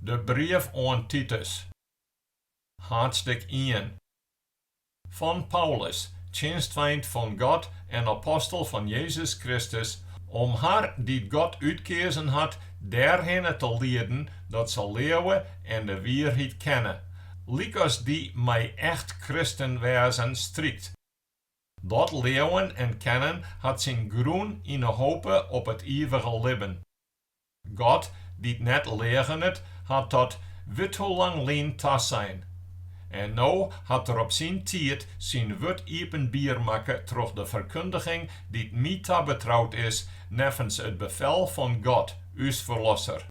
De brief oan Titus. Haadstik ien. Fan Paulus, tsjinstfeint fan God en apostel fan Jezus Kristus, om har dy't God útkeazen hat dêrhinne te lieden dat se leauwe en de wierheid kenne, lykas dy mei echt kristen wêzen strykt. Dat leauwen en kennen hat syn grûn yn 'e hope op it ivige libben. God, dy't net leagenet, hat dat withoelang lyn tasein. En no hat Er op syn tiid syn wurd iepenbier makke troch de ferkundiging dy't my tabetroud is neffens it befel fan God, ús Ferlosser.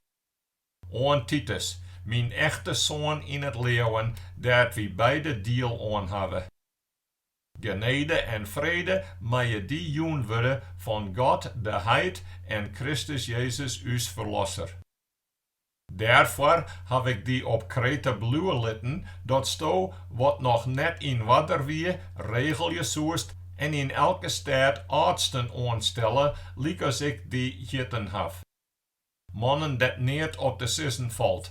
Oan Titus, myn echte soan yn it leauwen, dêr't wy beide diel oan hawwe. Genede en frede meie dy jûn wurde fan God de Heit en Kristus Jezus ús Ferlosser. Dêrfoar haw ik dy op Krete bliuwe litten, datsto, wat noch net yn oarder wie, regelje soest en yn elke stêd âldsten oanstelle, lykas ik dy hjitten haw. Mannen dêr't neat op te sizzen falt,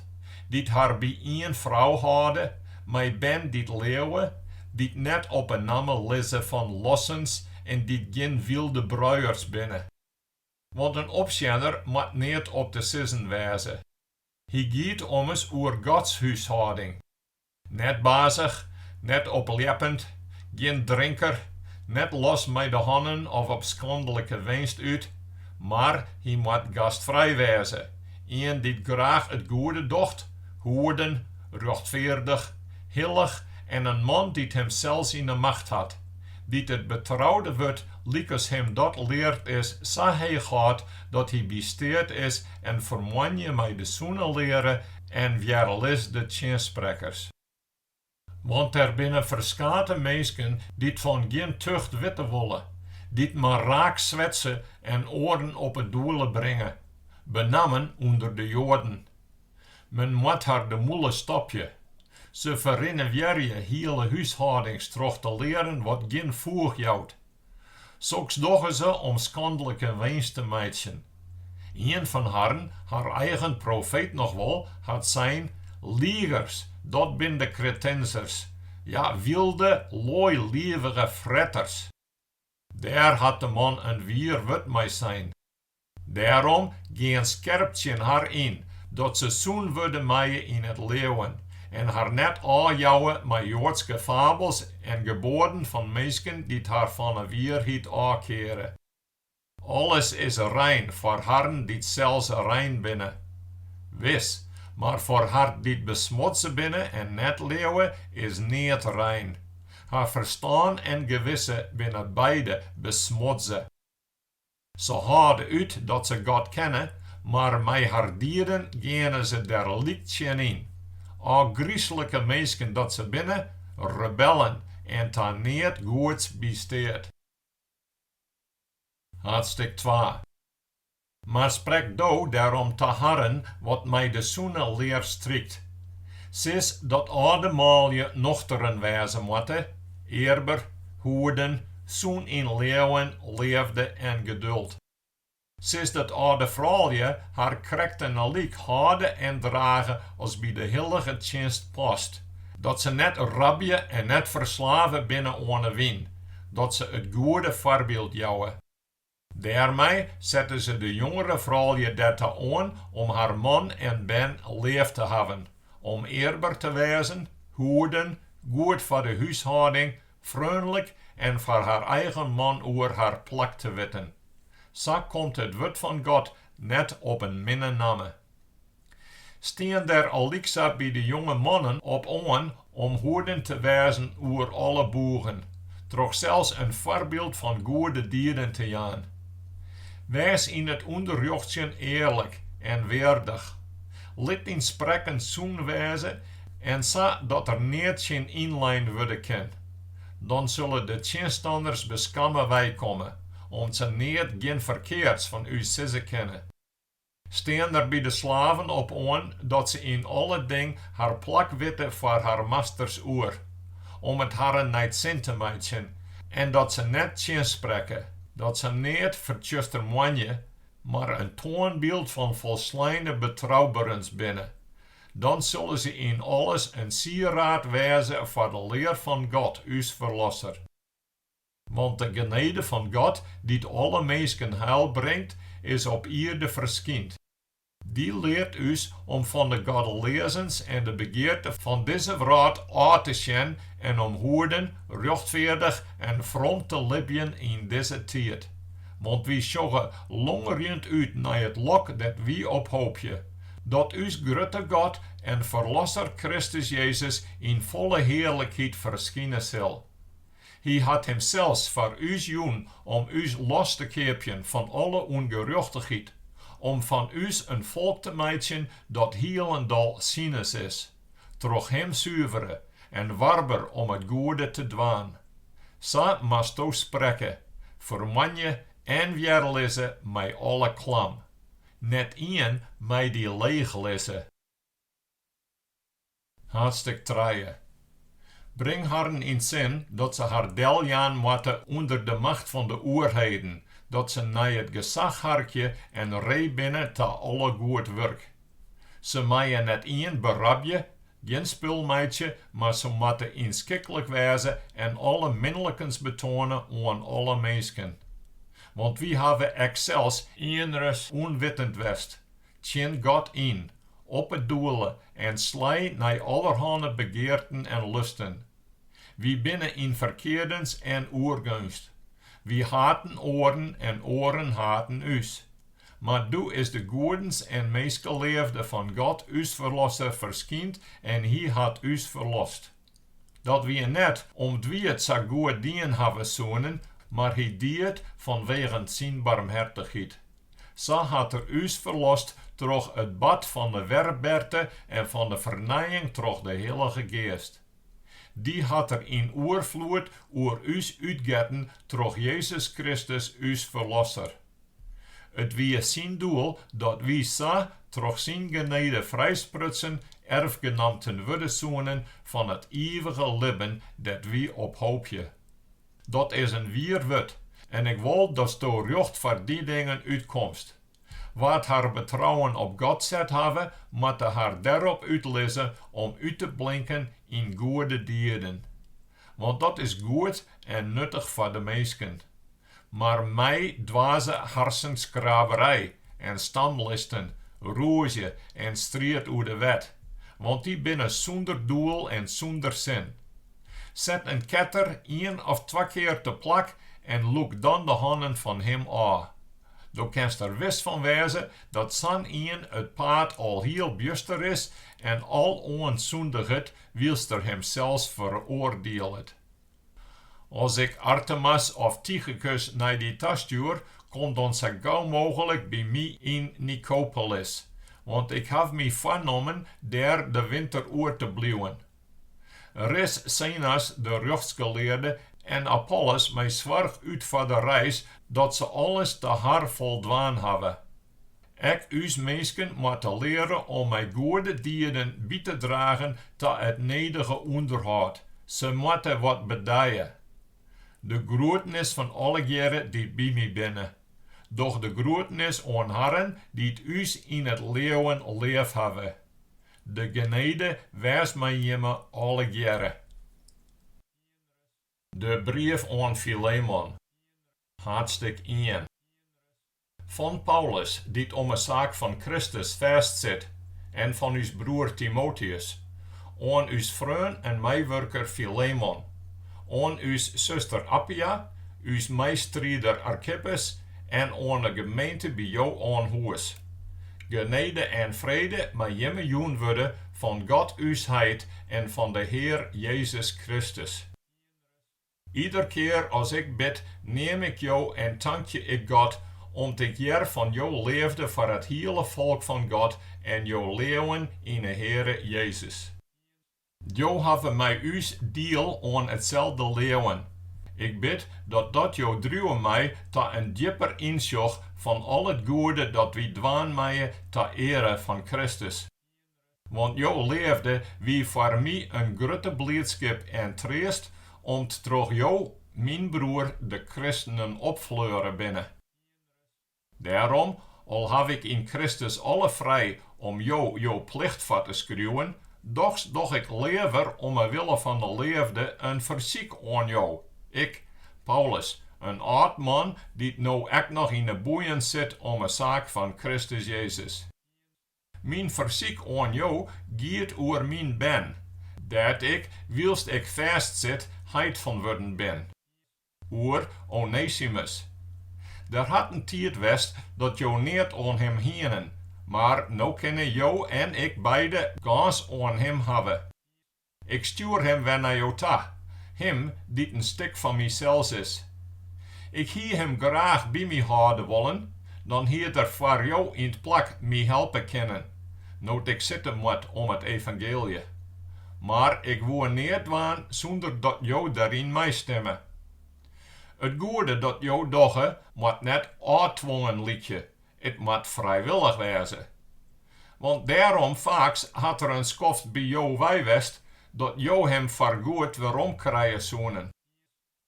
dy't har by ien frou hâlde, mei bern dy't leauwe, dy't net op 'e namme lizze fan lossens en dy't gjin wylde bruiers binne. Want in opsjenner moat neat op te sizzen wêze. Hy giet ommers oer Gods húshâlding. Net bazich, net opljeppend, gjin drinker, net los mei de hannen of op skandlike winst út, mar hy moat gastfrij wêze, ien dy't graach it goede docht, hoeden, rjochtfeardich, hillich en in man dy't himsels yn 'e macht hat, dy't it betroude wurd lykas him dat leard is sa heech hâldt dat hy by steat is en fermoanje mei de sûne leare en wjerlis de tsjinsprekkers. Want der binne ferskate minsken dy't fan gjin tucht witte wolle, dy't mar raak swetse en oaren op 'e doele bringe, benammen ûnder de Joaden. Men moat har de mûle stopje. Se ferynewjerje hiele húshâldings troch te learen wat gjin foech jout. Soks dogge se om skandlike winst te meitsjen. Ien fan harren, har eigen profeet noch wol, hat sein, Ligers, dat binne de Kretensers, ja, wylde, loailivige fretters. Dêr hat de man in wier wurd mei sein. Dêrom gean skerp tsjin har yn, dat se sûn wurde meie yn it leauwen, en har net ôfjouwe mei joadske fabels en geboaden fan minsken dy't har fan 'e wierheid ôfkeare. Alles is rein foar harren dy't sels rein binne. Wis, mar foar har dy't besmutse binne en net leauwe, is neat rein. Har ferstân en gewisse binne beide besmutse. Se hâlde út dat se God kenne, mar mei har dieden geane se der lyk tsjin yn. Ofgryslike minsken dat se binne, rebellen en ta neat goeds by steat. Hadstik twa. Mar sprek do dêrom ta harren wat mei de sûne lear strykt. Sis dat âlde manlju nochteren wêze moatte, earber, hoeden, sûn yn leauwen, leafde en geduld. Sis dat âlde froulju har krekten alyk hâlde en drage as by de hillige tsjinst past, dat se net rabje en net ferslave binne oan 'e wyn, dat se it goede foarbyld jouwe. Dêrmei sette se de jongere froulju der ta oan om har man en bern leaf te hawwen, om earber te wêzen, hoeden, goed foar de húshâlding, freonlik en foar har eigen man oer har plak te witten. Sa komt it wurd fan God net op in minne namme. Stean der al lyksa by de jonge mannen op oan om hoeden te wêzen oer alle boegen, troch sels in foarbyld fan goede dieden te jaan. Wês yn it ûnderrjochtsjen earlik en weardich, lit dyn sprekken sûn wêze en sa dat der neat tsjin ynlein wurde kin. Dan sille de tsjinstanners beskamme weikomme, om't se neat gjin ferkeards fan ús sizze kinne. stean der by de slaven op oan dat se yn alle ding har plak witte foar har masters oer, om it harren nei 't sin te meitsjen, en dat se net tsjinsprekke, dat se neat fertsjustermoanje, mar in toanbyld fan folsleine betrouberens binne. Dan sille se yn alles in sieraad wêze foar de lear fan God, ús Ferlosser. Want de genede fan God, dy't alle minsken heil bringt, is op ierde ferskynd. Dy leart ús om fan de goddeleazens en de begearte fan dizze wrâld ôf te sjen en om hoeden, rjochtfeardich en from te libjen yn dizze tiid. Want wy sjogge longerjend út nei it lok dêr't wy op hoopje, dat ús Grutte God en Ferlosser Kristus Jezus yn folle hearlikheid ferskine sil. Hy hat himsels foar ús jûn om ús los te keapjen fan alle ûngerjochtichheid, om fan ús in folk te meitsjen dat hielendal sines is, troch Him suvere en warber om it goede te dwaan. Sa moasto sprekke, fermanje en wjerlizze mei alle klam, net ien mei dy leechlizze. Haadstêk trije. Bring harren yn sin dat se har deljaan moatte ûnder de macht fan de oerheden, dat se nei it gesach harkje en ree binne ta alle goed wurk. Se meie net ien berabje, gjin spul meitsje, mar se moatte ynskiklik wêze en alle minlikens betoane oan alle minsken. Want wy hawwe ek sels ienris ûnwittend west, Tsjin God yn, op 'e doele en slij nei allerhânne begearten en lusten. Wy binne yn ferkeardens en oergeunst. Wy haten oaren en oaren haten ús. Mar doe is de goedens en minskeleafde fan God ús Ferlosser ferskynd en Hy hat ús ferlost. Dat wie net om't wy it sa goed dien hawwe soenen, mar hy die it fanwegen syn barmhertichheid. Sa hat er ús ferlost troch it bad fan de werberte en fan de fernijing troch de Hillige Geast. Dy hat er yn oerfloed oer ús útgetten troch Jezus Kristus ús Ferlosser. It wie syn doel dat wy sa troch syn genede frijsprutsen erfgenamten wurde soenen fan it ivige libben dêr't wy op hoopje. Dat is in wier wurd, en ik wol datsto rjocht foar dy dingen útkomst. Wa't har betrouwen op God set hawwe, moatte har dêrop útlizze om út te blinken yn goede dieden. Want dat is goed en nuttich foar de minsken. Mar mij dwaze harsenskraberij en stamlisten, rûzje en striid oer de wet, want dy binne sûnder doel en sûnder sin. Set in ketter ien of twa kear teplak en lûk dan de hannen fan him ôf. Do kinst der wis fan wêze dat sa'n ien it paad al hiel bjuster is en aloan sûndiget wylst er himsels feroardielet. As ik Artemas of Tychikus nei dy ta stjoer, kom dan sa gau mooglik by my yn Nikopolis, want ik haw my foarnommen dêr de winter oer te bliuwen. Ris Zenas de rjochtsgelearde en Apollos mei soarch út foar de reis, dat se alles ta har foldwaan hawwe. Ek ús minsken moatte leare om mei goede dieden by te dragen ta it nedige ûnderhâld. Se moatte wat bedije. De groetenis fan allegearre dy't by my binne. Doch de groetenis oan harren dy't ús yn it leauwen leaf hawwe. De genede wês mei jimme allegearre. De brief oan Filemon, haadstik ien. Fan Paulus, dy't om 'e saak fan Kristus fêstsit, en fan ús broer Timoteus, oan ús freon en meiwurker Filemon, oan ús suster Appia, ús meistriider Arkippus en oan 'e gemeente by jo oan hûs. Genede en frede mei jimme jûn wurde fan God ús Heit en fan de Hear Jezus Kristus. Ieder kear as ik bid, neam ik jo en tankje ik God, om't ik hear fan jo leafde foar it hiele folk fan God en jo leauwen yn 'e Heare Jezus. Jo hawwe mei ús diel oan itselde leauwen. Ik bid dat dat jo driuwe mei ta in djipper ynsjoch fan al it goede dat wy dwaan meie ta eare fan Kristus. Want jo leafde wie foar my in grutte bliidskip en treast, om't troch jo myn broer de kristenen opfleure binne. Dêrom, al haw ik yn Kristus alle frij om jo jo plicht foar te skriuwen, dochs doch ik leaver om 'e wille fan de leafde in fersyk oan jo, ik, Paulus, in âld man, dy't no ek noch yn 'e boeien sit om 'e saak fan Kristus Jezus. Myn fersyk oan jo giet oer myn bern, dêr't ik, wylst ik fêst sit, heit fan wurden bin. Oer Onesimus. Der hat in tiid west dat jo neat oan him hienen, mar no kinne jo en ik beide gâns oan him hawwe. Ik stjoer him wer nei jo ta, him dy't in stik fan mysels is. Ik hie him graach by my hâlde wollen, dan hied er foar jo yn 't plak my helpe kinnen, no't ik sitte moat om it evangeelje. Mar ik woe neat dwaan sûnder dat jo dêryn meistimme. It goede dat jo dogge moat net ôftwongen lykje, It moat frijwillich wêze. Want dêrom faaks hat er in skoft by jo wei west dat jo him foargoed werom krije soenen.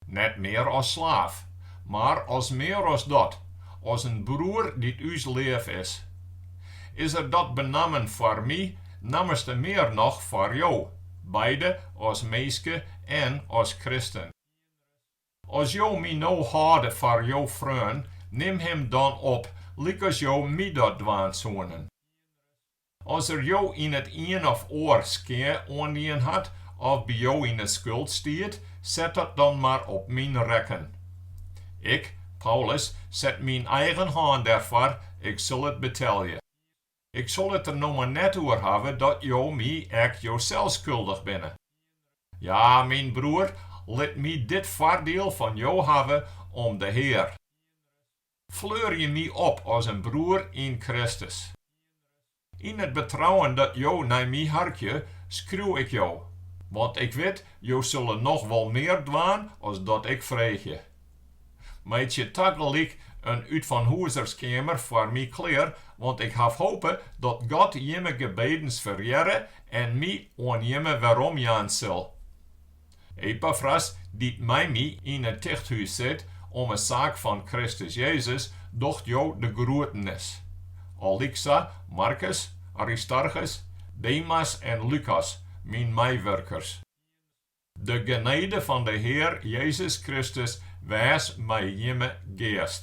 Net mear as slaaf, mar as mear as dat, as in broer dy't ús leaf is. Is er dat benammen foar my, nammerste mear noch foar jo, beide as minske en as kristen. As jo my no hâlde foar jo freon, nim him dan op, lykas jo my dat dwaan soenen. As er jo yn it ien of oar skea oandien hat, of by jo yn 'e skuld stiet, set dat dan mar op myn rekken. Ik, Paulus, set myn eigen hân dêrfoar, ik sil it betelje. Ik sil it der no mar net oer hawwe dat jo my ek josels skuldich binne. Ja, myn broer, lit my dit foardiel fan jo hawwe om de Hear. Fleurje my op as in broer yn Kristus. Yn it betrouwen dat jo nei my harkje, skriuw ik jo, want ik wit, jo sille noch wol mear dwaan as dat ik freegje. Meitsje tagelyk in útfanhûzerskeamer foar my klear, want ik haw hope dat God jimme gebedens ferhearre en my oan jimme weromjaan sil. Epafras, dy't mei my yn it tichthûs sit om 'e saak fan Kristus Jezus, docht jo de groetenis. Al lyksa Markus, Aristarchus, Demas en Lukas, myn meiwurkers. De genede fan de Hear Jezus Kristus wês mei jimme geast.